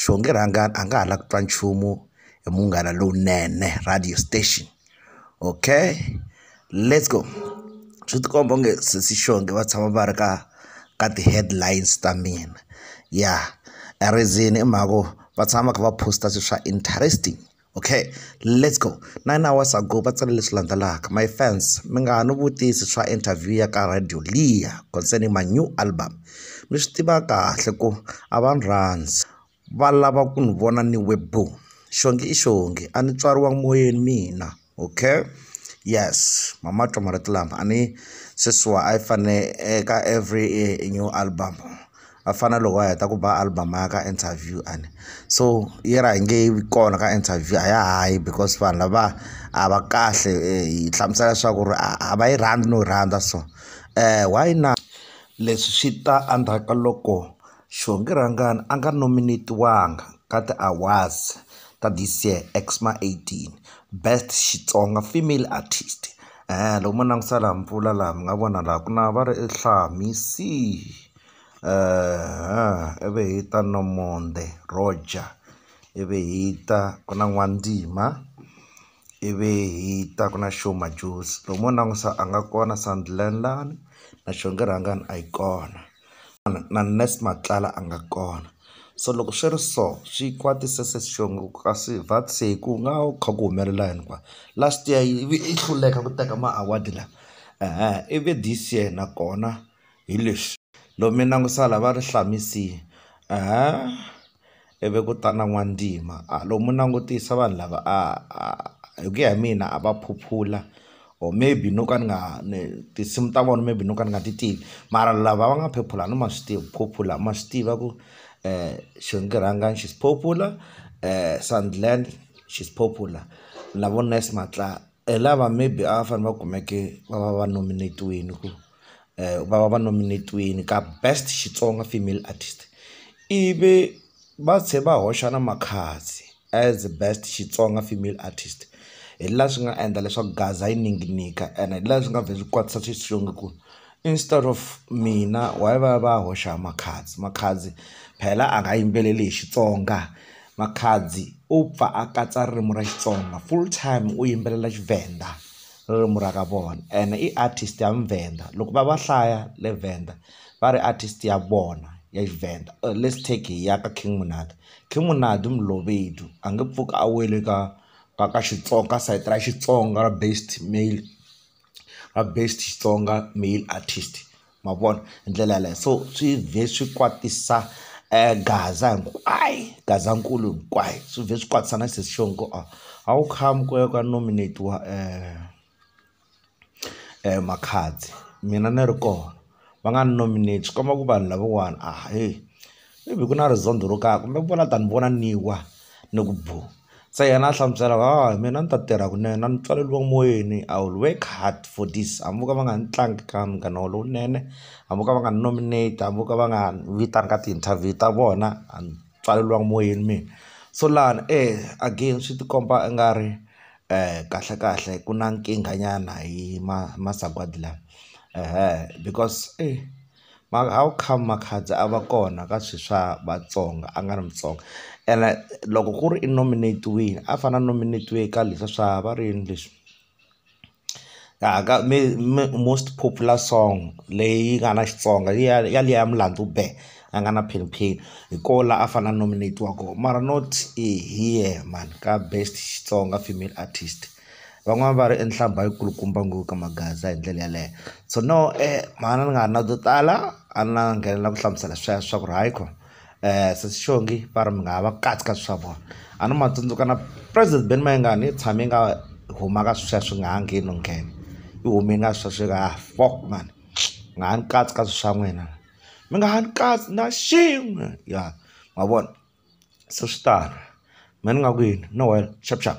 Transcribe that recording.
Xonge Rhangani a nga ha la ku twa nchumu hi Munghana Lowunene radio station okay let's go swi ti komba onge sesi Xonge va tshama va ri ka ka ti-headlines ta mina ya reason i mhaka ku va tshama va kha va post-a swilo swa interesting. Okay let's go nine hours ago va tsale leswi landzelaka my fans mi nga ha ni vutisi swa interview ya ka Radio Liya concerning my new album mi swi tiva kahle ku a va ni rhandzi va lava ku ni vona ni we bo xongi i xongi a ni tswariwa moyeni mina okay yes mama twa marito lama a ni sweswiwa a yi fane eka every new album. a fana na loko a heta ku ba album a ya ka interview a ni so yi ra yi nge vi kona ka interview a ya ha yi because vanhu lava a va kahle hi hlamusela leswaku ri a va yi rhandzi no yi rhandza so why na leswi swi ta endzhaku ka loko Xihongerhangani a nga nominate-wanga ka ti-awards ta this year X_M_A eighteen best Xitsonga female artist loko mo langutisa laha mpfula laha mi nga vona laha ku na va ri ivi hi ta Nomonde Roger ivi hi ta ku na N'wandzima ivi hi ta ku na Sho Madjozi loko mo langutisa a nga kona Sandeland lani na Xonge Rhangani a yi kona. na nurse Matlala a nga kona so loko swi ri so swi kwatisa se xivongo kasi what say ku nga va ku kha ku humelela yini kwala last year yi vi yi hluleka ku teka ma award lawa ivi this year nakona hi leswi loko mi langutisa lava ri Hlamise . ivi ku ta na n'wantima a lo mu langutisa vanhu lava a a hi ku ya hi mina a va phuphula or maybe no ka ni nga ni tinsimu ta vona maybe no ka ni nga ti tivi mara lava va nga phephula a ni ma swi tivi phuphula ma swi tiva ku xinkarhangani xi phuphula Sandland xi phuphula na vo Nice Matlala Hi lava maybe a va fanele va kumeke va va va nominate-wini ku va va va nominate-wini ka best Xitsonga female artist ivi va tlhela va hoxa na Makhadzi as best Xitsonga female artist hi laha swi nga endla leswaku gaza yi ninginika ene hi laha swi nga vhela swi kwatisa xiswongo ku. Instead of mina why va ya va ya hoxa Makhadzi Makhadzi phela a nga yimbeleli hi Xitsonga Makhadzi u pfa a katsa ririmi ra Xitsonga full time u yimbelela Tshivenda ririmi ra ka vona ene i artist ya muvhenda loko va va hlaya le Venda va ri artist ya vona ya Tshivenda let's take hi ya ka King Monado King Monado Mlobedu a nge pfuki a wele ka ka ka Xitsonga ka side ra Xitsonga ra based male. va best Xitsonga male artist ma vona hi ndlela yaleyo so swi vhe swi kwatisa gaza hinkwayo gazankulu hinkwayo swi vhe swi kwatisa na sesi Shongo ku a a wu come ku ya ku ya nominate-iwa Makhadzi mina ni ri kona. va nga ni nominate swi komba ku vanhu lavawani a hi maybe ku na rizondho ro karhi kumbe ku vona than vona ni wa ni ku bo se yena a hlamusela ku hawa mina ni ta tirha kunene a ni pfaleriwa moyeni I will work hard for this hambi vo ka va nga ni tlangi ka munghana wa lowunene hambi vo ka va nga ni nominate hambi vo ka va nga ni vitani ka ti-interview ta vona a ni pfaleriwanga moyeni mina so lani e again swi ti komba i nga ri. kahle kahle ku na nkingha nyana hi ma masagwadi lawa because eyi how come makhadzi a va kona ka swi swa Vatsonga a nga ri Mutsonga ene loko ku ri i nominate-wile a fane a nominate-iwe ka leswa swa va ri yini leswi most popular song leyi nga na Xitsonga ya liya ya Mlandu Bee. a nga na pin pin hi ko la a fane a nominate-iwa ko mara not hi yehe mhani ka best Xitsonga female artist van'wani va ri i nhlambha yi kulukumba ngo ka magaza hi ndlela yaleyo so no mhani ni nga ha ri na to tala a na nghenelela ku hlamusela sweswo swa ku ri hayi ko sesi xongi va ri mi nga ha va kahle ka swa vona a ni ma tsundzuka na president Benny Mayengani i tshame nga huma ka sweswo nga ha ngheni no nghena i hume nga sweswo ka ha fok mhani nga ha ni katsi ka swi swa n'wina. mi nga ha ni kahle na xin'we ya ma vona se swi tano mehe ni nga ku yini no wena xap xap.